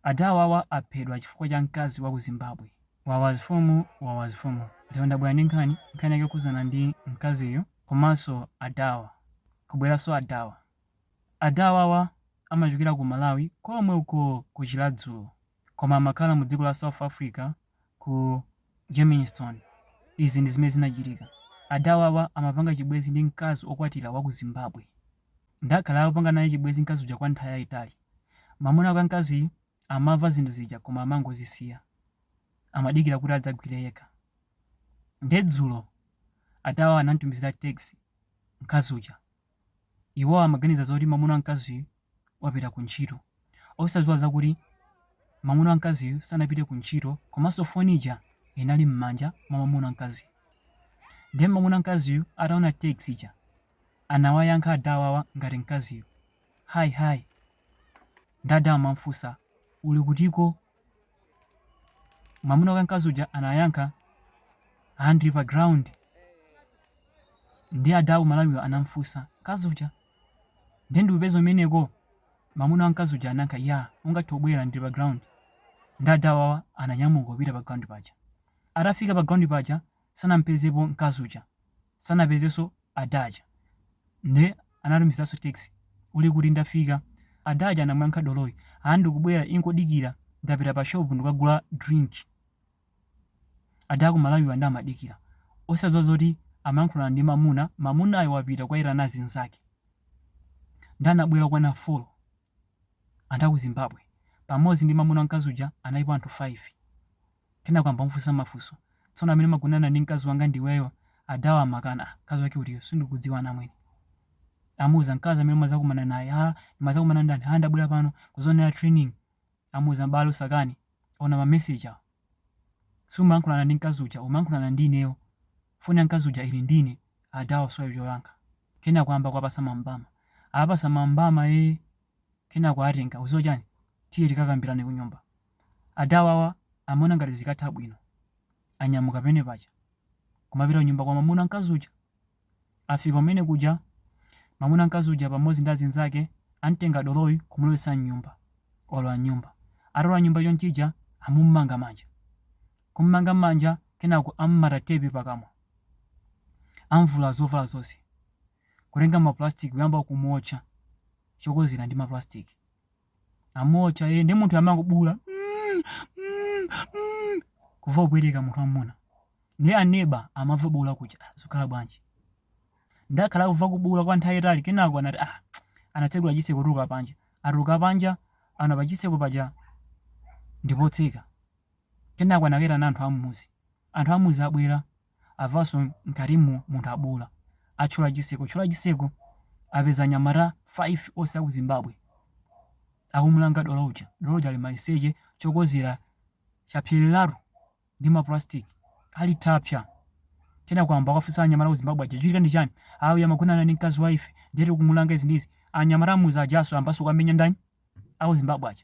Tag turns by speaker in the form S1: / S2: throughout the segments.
S1: Ada awawa aphedwa chifukwa cha mkazi wa ku Zimbabwe. Wawa zifumu wawa zifumu. Ndipo ndabwera ndi nkhani, nkhani yake yokhudzana ndi mkaziyo komanso adawa. Kubweranso adawa. Ada awawa amachokera ku Malawi komwe uko ku Chiradzulu koma amakhala mu dziko la South Africa ku Germiston. Izi ndi zimene zinachitika. Adawawa amapanga chibwezi ndi mkazi okwatila waku Zimbabwe. Ndakhala akupanga naye chibwezi mkazi uja kwa nthawi yaitali. Mamuna wake amkaziyu amava zinthu zija koma amangozisiya. Amadikila kuti adzagwile yekha. Nde dzulo adawawa anamtumizila text mkazi uja. Iwo amaganiza zoti mwamuna wa mkaziyu wapita kuntchito, osadziwa zakuti mwamuna wa mkaziyu sanapite kuntchito komanso foni ija inali m'manja mwa mwamuna wa mkaziyu. Ndiye mwamuna wa mkaziyu ataona text ija, anawayankha ada awawa ngati mkaziyu, Hi hi, nde ada amam'funsa, Uli kutiko? mwamuna wake mkazi uja anayankha ndili pa ground nde ada aku malawiwa anamfunsa mkazi uja ndiye ndikupeza kumeneko mwamuna wa mkazi uja anayankha ya ungathe kubwera ndili pa ground nde adawawa ananyamuka kupita pa ground paja atafika pa ground paja sanampezepo mkazi uja sanapezeso ada aja nde anatumizilaso text uli kuti ndafika ada aja anamuyankha doloyi aa ndikubwera ingodikira ndapita pa shop ndikukagula drink ada akumalawiwa nde amadikira osadziwa zoti amayankhulana ndi mamuna mamunayo wapita kukaitana azinzake nde anabwera okwana folo Anthu a ku Zimbabwe, pamodzi ndi mwamuna wa mkazi uja, analipo anthu 5. Kenako ayamba kumufunsa mafunso. Tsono amene umagonana ndi mkazi wanga ndi iweyo? Adawa amakana. Ah, mkazi wake utiyo? Sindikudziwa anamwene. Amuuza mkazi amene umadzakumana naye. Ah, ndimadzakumana ndani? Ah, ndabwera pano kudzonera training. Amuuza m'bale usakane. Ona ma message awo. Sumayankhulana ndi mkazi uja, umayankhulana ndi ineyo. Foni ya mkazi uja ili ndi ine. Adawa asowa choyankha. Kenako ayamba kuwapatsa ma mbama. Awapatsa ma mbama ee. Kenako atenga. Udziwa chani? Tiye tikakambirane kunyumba. Adawawa amaona ngati zikatha bwino. Anyamuka pene paja. Kumapita kunyumba kwa mamuna mkazi uja. Afika kumene kuja, mamuna mkazi uja pamodzi ndi azinzake amtenga doloyi kumulowetsa mnyumba. Alowa mnyumba. Atalowa mnyumba chonchija, amumanga manja. Kumumanga manja, kenako amumata tepi pakamwa. Amvula zovala zonse. Kutenga ma plastic kuyamba kumuotcha chokozera ndi ma plastic. amuotcha ee ndiye munthu amangobuula mm, mm, mm. kuva kupweteka munthu wamuna ndiye aneba amava kubuula kuja zikhala bwanji atakhala kuva kubuula kwa nthawi yaitali kenako anati ah anatsegula chiseko kutuluka panja atatuluka panja ana pachiseko paja ndipotseka kenako anakaitana anthu amuzi anthu amuzi abwera avaso mkatimu munthu abuula atchola chiseko tchola chiseko apeza anyamata 5 ose aku zimbabwe akumulanga dolo uja dolo uja ali maliseche chokozera chapsyeleratu ndi ma plastic ali tapsya kenako ayamba akafunsa anyamata aku zimbabwe aja chitika ndi chani awo amagonana ndi mkazi waife ndiye tikumulanga izi ndizi anyamata amuzi ajaso ayambaso kuwamenya ndani aku zimbabwe aja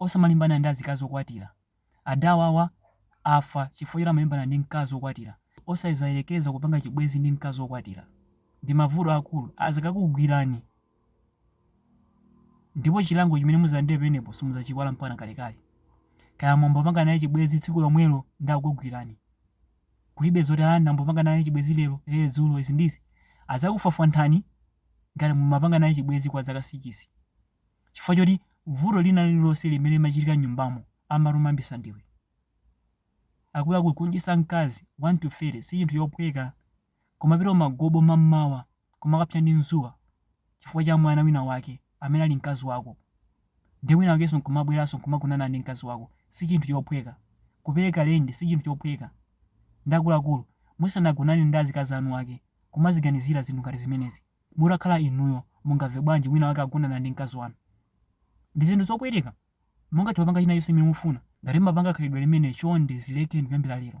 S1: Osamalimbana ndi azikazi okwatira. Adawawa afa chifukwa choti amalimbana ndi mkazi okwatira. Osazayerekeza kupanga chibwenzi ndi mkazi okwatira. Ndi mavuto aakulu azakakugwirani ndipo chilango chimene muzalandire pemenepo simuzachiiwala mpakana kalekale. Kaya mwambopanga naye chibwenzi tsiku lomwelo nde akukugwirani. Kulibe zoti aa ndambopanga naye chibwenzi lero, ee dzulo, izi ndi izi. Azakufwafwanthani ngati mumapanga naye chibwenzi kwa zaka sikisi. chifukwa choti vuto lina lililonse limene limachitika m'nyumbamo amati umayambitsa ndiwe. Akuluakulu, kudyetsa mkazi wani tu fete si chinthu chophweka. Kumapita kumagobo mam'mawa kumakapsa ndi dzuwa chifukwa cha mwana winawake amene ali mkazi wako, ndiye winawakenso n'kumabweranso n'kumagonana ndi mkazi wako si chinthu chophweka. Kupereka lendi si chinthu chophweka. Ndiye akuluakulu, musanagonane ndi azikazi eniake kumaziganizira zinthu ngati zimenezi. Mutakhala inuyo, mungamve bwanji wina wake agonana ndi mkazi wanu? Ndi zinthu zopweteka. Mungathe kupanga china chonse chimene mufuna. Ngati mumapanga khalidwe limeneli chonde zilekeni kuyambira lero.